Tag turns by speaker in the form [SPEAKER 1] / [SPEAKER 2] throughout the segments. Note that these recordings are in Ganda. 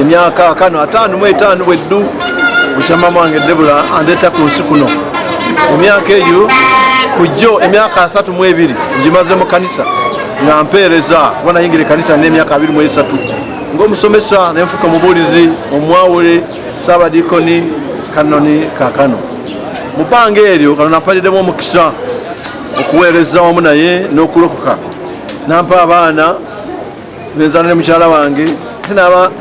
[SPEAKER 1] emyaka kano ataano mu etaano bweddu bukyama mwange debula andeeta ku nsi kuno emyaka egyo kujjo emyaka asatu mu ebiri ngimaze mu kanisa nga mpeereza kuba nayingira ekanisa n'emyaka abiri mu esatu ng'omusomesa nenfuka omubuulizi omwawule saabadikoni kanoni kakano mu bbanga eryo kano nafaliddemu omukisa okuweereza wamu naye n'okulokoka nampa abaana nenzana ne mukyala wange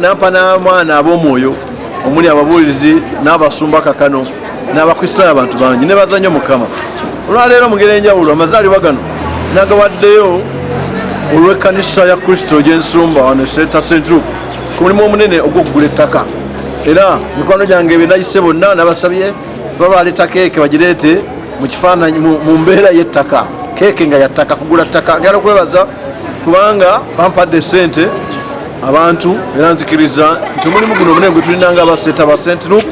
[SPEAKER 1] nampa n'amwana ab'omwoyo omuli ababuulizi n'abasumba kakano n'abakristaayo abantu bangi ne baza nnyo mukama olwaleero mugera enjawulo amazaalibwa gano nagawaddeyo olw'ekkanisa ya kristo gy'ensumba wano eseta centru ku mulimu omunene ogw'okugula ettaka era mikwano gyange benayise bonna nabasabye kuba baleeta keeke bagireete mu kifaananyi mu mbeera y'ettaka keeke nga yattaka kugula ttaka ngala kwebaza kubanga bampadde ssente abantu era nzikiriza nti omulimu guno omunene gwe tulina nga abaseeta ba sentinuk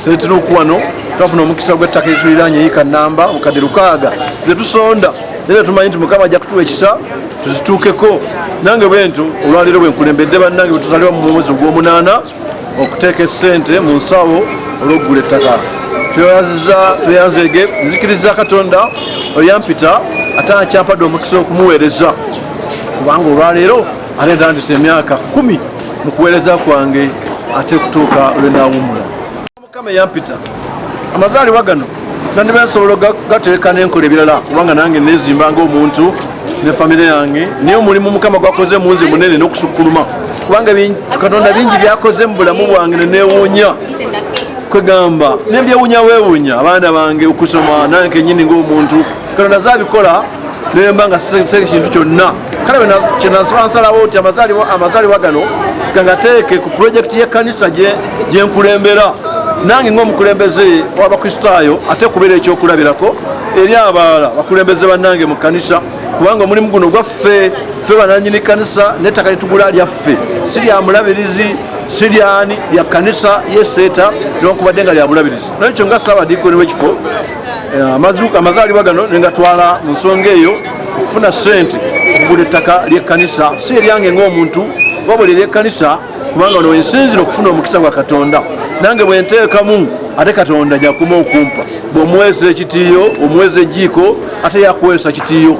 [SPEAKER 1] sentinuk wano twafuna omukisa gw'ettaka ezituliraanye yiika namba bukadde lukaaga zetusonda era tumanyi nti mukama ajja kutuwa ekisa tuzituukeko nange bwentyo olwaleero bwenkulembedde bannange bwetuzalibwa mu mwezi ogw'omunaana okuteeka essente mu nsawo olwokugula ettaka tweyaziza tweyanzege nzikiriza katonda oyampita ate akyampadde omukisa okumuweereza kubanga olwaleero ate ntandise emyaka kumi mu kuweereza kwange ate kutuuka lwenawumula mukama eyampita amazaalibwa gano nandiba nsobola gateeka nenkola ebirala kubanga nange nezimba ngaomuntu ne famire yange naye omulimu mukama gwakoze munze munene nokusukkuluma kubanga katonda bingi byakoze mu bulamu bwange nenewuunya kwegamba nembyewunya wewunya abaana bange okusoma nange kenyini ngaomuntu katonda zabikola nemba nga sisenge kintu kyonna kale kyenasaba nsalawo nti amazaalibwa gano gangateeke ku pulojekiti y'ekkanisa gyenkulembera nange ngaomukulembeze w'abakristaayo ate kubeera ekyokulabirako eri abaala bakulembeze bannange mu kkanisa kubanga omulimu guno gwaffe ffe bananyini kkanisa n'ettaka litugula lyaffe si lya mulabirizi si lyani lya kkanisa yeseeta newankubadde nga lya bulabirizi nolwekyo nga saabadiikoni w'ekifo Eh, amazuuka amazaalibwa gano nengatwala mu nsonga eyo okufuna ssente okugula ettaka ly'ekkanisa si eryange ng'omuntu wabula ery'ekkanisa kubanga ono wensinzira okufuna omukisa gwa katonda nange bwe nteekamu ate katonda jakuma okumpa bw'omuweesa ekitiiyo omuweesa ejjiiko ate yakuweesa kitiiyo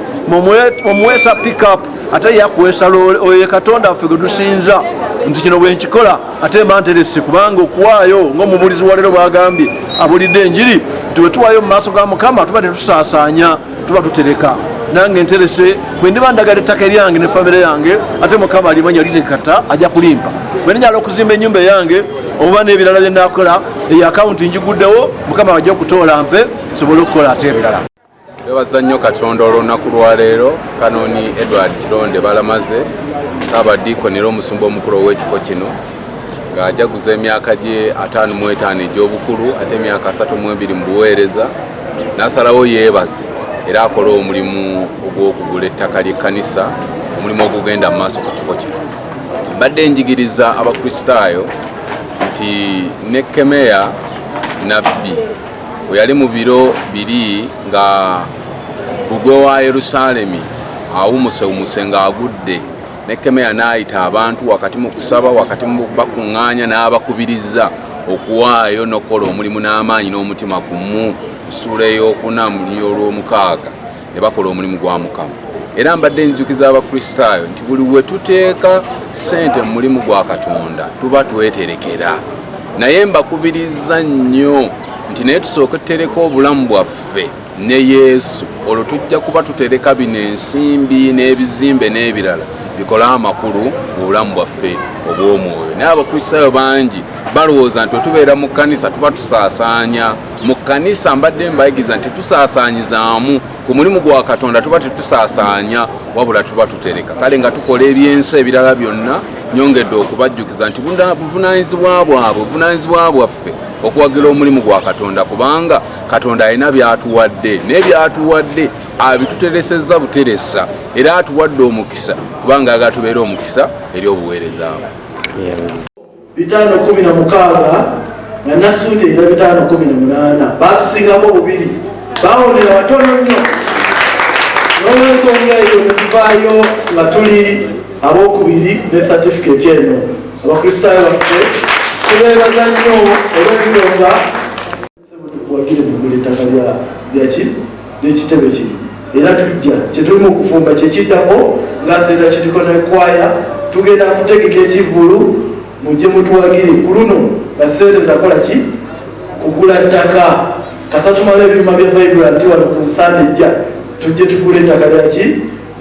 [SPEAKER 1] omuweesa pickup ate yakuweesa loole oyo ye katonda affe gwe tusinza nti kino bwe nkikola ate mba nterese kubanga okuwaayo ng'omubuulizi wa leero bwagambye abulidde enjiri nti bwe tuwaayo mu maaso ga mukama tuba tetusaasaanya tuba tutereka nange nterese bwe ndiba ndagala ettaka eryange ne famire yange ate mukama alimanya litekata ajja kulimpa bwe ndinyala okuzimba ennyumba eyange oba n'ebirala bye naakola eyo akawunti njiguddewo mukama ajja okutoola mpe sobole okukola ate ebirala Twebaza nnyo
[SPEAKER 2] Katonda olw'olunaku lwa leero Kanoni Edward Kironde Balamaze Ssaabadiikoni era omusumba omukulu ow'ekifo kino ng'ajaguza emyaka gye ataano mu etaano egy'obukulu ate emyaka asatu mu ebiri mu buweereza n'asalawo yeebaze era akole omulimu ogw'okugula ettaka ly'ekkanisa omulimu ogugenda mu maaso ku kifo kino mbadde njigiriza abakristaayo nti ne kemeya nabbi weyali mu biro biri nga bbugwe wa yerusaalemi awumusewumuse ng'agudde nekemeya n'ayita abantu wakati mu kusaba wakati mu bakuŋŋaanya n'abakubiriza okuwaayo n'okukola omulimu n'amaanyi n'omutima gumu ssuula ey'okuna mu ly'olwomukaaga ne bakola omulimu gwa mukama era mbadde njukiza abakristaayo nti buli we tuteeka ssente mu mulimu gwa katonda tuba tweterekera naye mbakubiriza nnyo nti naye tusooke tutereka obulamu bwaffe ne yesu olwo tujja kuba tutereka bino ensimbi n'ebizimbe n'ebirala bikole amakulu mu bulamu bwaffe obw'omwoyo naye abakristaayo bangi balowooza nti otubeera mu kkanisa tuba tusaasaanya mu kkanisa mbadde mbayigiza nti tusaasaanyizaamu ku mulimu gwa katonda tuba tetusaasaanya wabula tuba tutereka kale nga tukola ebyensi ebirala byonna nyongedde okubajjukiza nti buvunaanyizibwa bwabwe buvunaanyizibwa bwaffe okuwagira omulimu gwa katonda kubanga katonda alina byatuwadde naye byatuwadde abituteresezza buteresa era atuwadde omukisa kubanga agatubeera omukisa eri obuweereza bwe bitaano kumi na
[SPEAKER 3] mukaaga nga nasuuti era bitaano kumi na munaana baatusingako bubiri bawonera batono nnyo n'olwensonga eyo netuvaayo nga tuli abokubiri ne satifiketi eno abakristaayo baffe tubeebaza nnyo olw'ensonga Ssebo tukuwagire mu kugula ettaka lya lya ki ly'ekitebe kino era tujja kye tuli mu kufumba kye kiddako nga Cedar City Choir tugenda kutegeka ekivvulu mujje mutuwagire ku luno nga ssente zakola ki kugula ttaka kasa tumale ebyuma bya Vibrant wano ku nsanda ejja tujje tugule ettaka lya ki